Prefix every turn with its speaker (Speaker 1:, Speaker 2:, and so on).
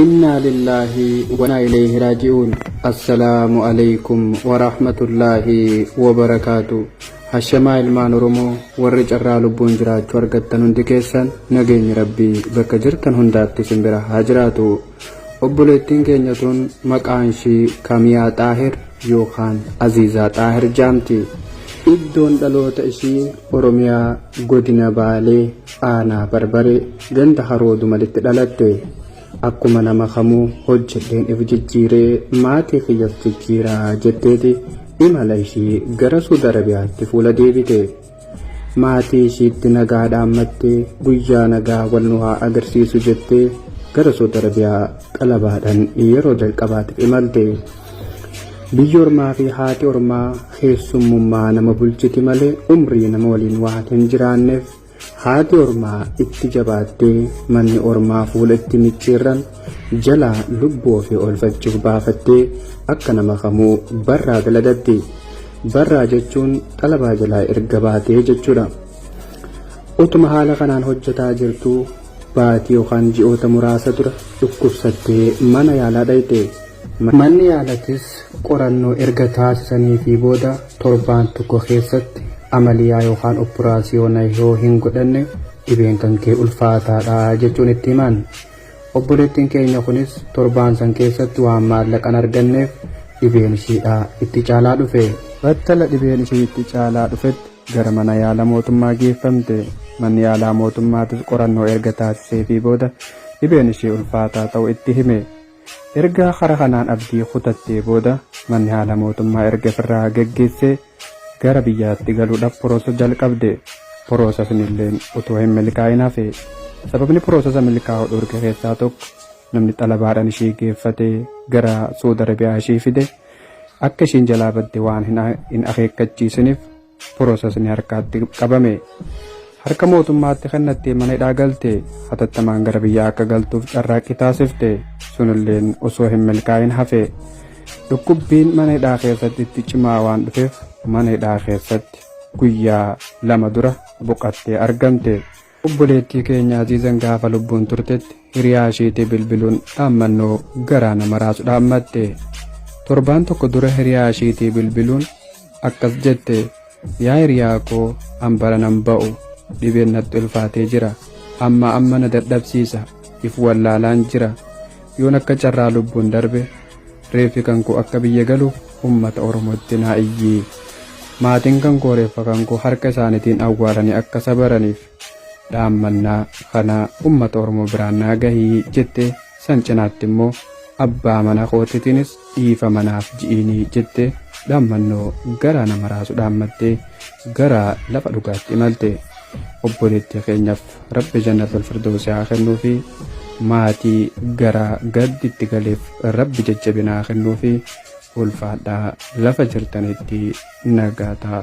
Speaker 1: Innaalillaahi wanaa ileeyhi raaji'uun Assalaamu aleykum waraahmatullaahi wabarakaatu Hashamaa ilmaan oromoo warri carraa lubbuun jiraachu argattan hundi keessan nageenyi rabbii bakka jirtan hundaatti isin bira haa jiraatu obboleettiin keenya tun maqaan ishii kamiyaa xaahir yookaan aziizaa xaahir jaamti iddoon dhaloota ishii oromiyaa godina baalee Aanaa Barbaree ganda Haroo Dumalitti dhaladhe. Akkuma nama kamuu hojjedheen if jijjiiree maatii kiyyas jijjiira jetteeti imala ishii gara Suud Arabiyaatti fuula deebite. Maatii ishiitti nagaa dhaammattee guyyaa nagaa wal nu haa agarsiisu jettee gara Suud Arabiyaa xalabaadhaan yeroo jalqabaatiif imalte. Biyyi ormaa fi haati ormaa Keessummummaa nama bulchiti malee umrii nama waliin waan hin jiraanneef haati ormaa itti jabaattee manni ormaa fuula itti micciirran jalaa lubbuu ofii oolfachuuf baafattee akka nama kamuu barraa daladatti. Barraa jechuun xalabaa jalaa erga baatee jechuudha. Utuma haala kanaan hojjetaa jirtu baatii yookaan ji'oota muraasa dura dhukkubsattee mana yaalaa dhayxe. Manni yaalatis Qorannoo erga taasisaniifii booda torbaan tokko keessatti amaliyaa yookaan oppuraasiyoona yoo hin godhanne dhibeen kan kee ulfaataadha jechuun itti himan. Obboleettiin keenya kunis torbaan san keessatti waan maallaqan arganneef dhibeen ishiidha itti caalaa dhufe. Battala dhibeen ishii itti caalaa dhufetti gara mana yaala mootummaa geeffamte. Manni yaalaa mootummaatis qorannoo erga taasiseefii booda dhibeen ishii ulfaataa ta'u itti hime. Erga kara kanaan abdii kutattee booda manni haala mootummaa erga firraa geggeessee gara biyyaatti galuudhaf poroosa jalqabde. Poroosasnilleen utuu hin milkaa'in hafe. Sababni poroosasa milkaa'u dhorke keessaa tokko namni xalabaadhan ishii geeffate gara Suud Arabiyaa ishii fide akka ishiin jalaa badde waan hin akeekkachiisinif. Piroosesni harkaatti qabame. Harka mootummaatti kennattee mana hidhaa galte. Hatattamaan gara biyyaa akka galtuuf carraaqqii taasifte. Sunilleen osoo hin milkaa'in hafe. Dhukkubbiin mana hidhaa keessatti itti cimaa waan dhufeef mana hidhaa keessatti guyyaa lama dura boqattee argamte. Obboleettii keenya Aziizan gaafa lubbuun turtetti hiriyaa ishiitii bilbiluun dhaammannoo garaa nama raasu dhaammatte. Torbaan tokko dura hiriyaa ishiitii bilbiluun akkas jette yaa hiriyaa koo an bara nan ba'u dhibeen natti ulfaatee jira amma amma na dadhabsiisa if wallaalaan jira yoon akka carraa lubbuun darbe Reeffi kan koo akka biyya galu ummata Oromootti naa iyyi. Maatiin kan koo reeffa kan koo harka isaanitiin awwaalanii akka sabaraniif dhaammannaa kana ummata Oromoo biraan naa gahi jette san cinaatti immoo abbaa mana kootitiinis dhiifama naaf ji'iini jette dhaammannoo garaa nama raasu dhaammattee gara lafa dhugaatti imalte. Obboleettii keenyaaf Rabbi jannatul firdoosi haa kennuufi maatii garaa gaddi itti galeef rabbi jajjabina haa kennuufi ulfaadhaa lafa jirtanitti nagaa ta'a.